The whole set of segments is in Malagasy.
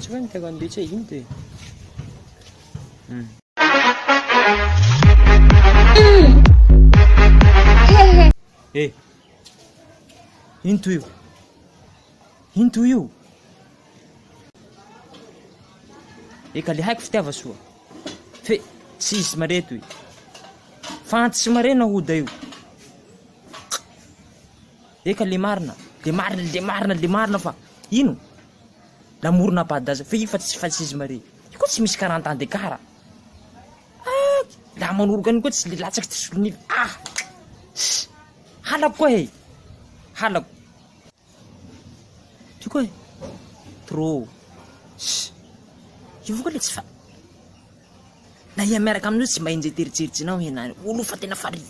Tsy hoe ny karazany be tsy hay inty e. Hmm. Eh, into io. Into io. Eka le haiko fitiava soa. Fe tsisy mareto i. Fantsy marena hoda io. Eka le marina, le marina, le marina, le marina fa ino? Namorona badass f'io fa tsy fascisme re, io koa tsy misy quarante ans d'écart a! Ah! Raha manoroka an'io koa tsy le latsaky tsy solon'ila ah! Ss! Halako koa e! Halako! Io koa e! Trop! Ss! Io koa le tsy fa. Na iha miaraka amin'io tsy mba enjehy tery jery jinao ianao io. Olo fa tena fari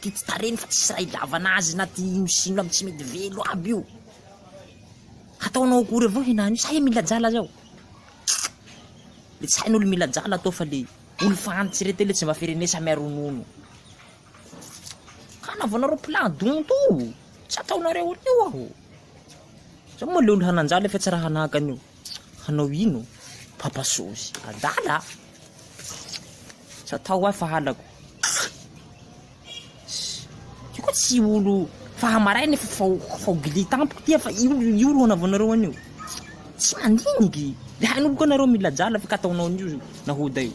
ty tsy tarehiny fa tsisy raha ilavana azy na ty ino sy ino aby tsy mety velo aby io. Hataonao akory avao henany io sa iha mila jala zao. Le tsy hain'olo mila jala atao fa le olo fa antitry reto le tsy mba ferenesa mia ronono. Ka anaovanareo plan donto o! Tsy ataonareo an'io aho. Zao moa le olo hanan-jala efa tsy raha hanahaka an'io. Hanao ino? Papa Sôzy, adala a! Tsy atao aho fa halako. Io koa tsy olo fahamaraina efa fao fao gili tampoko ty fa io io ro anaovanareo an'io. Tsy mandiniky. De hainao koa nareo mila jala fa ka ataonao an'io nahoda io.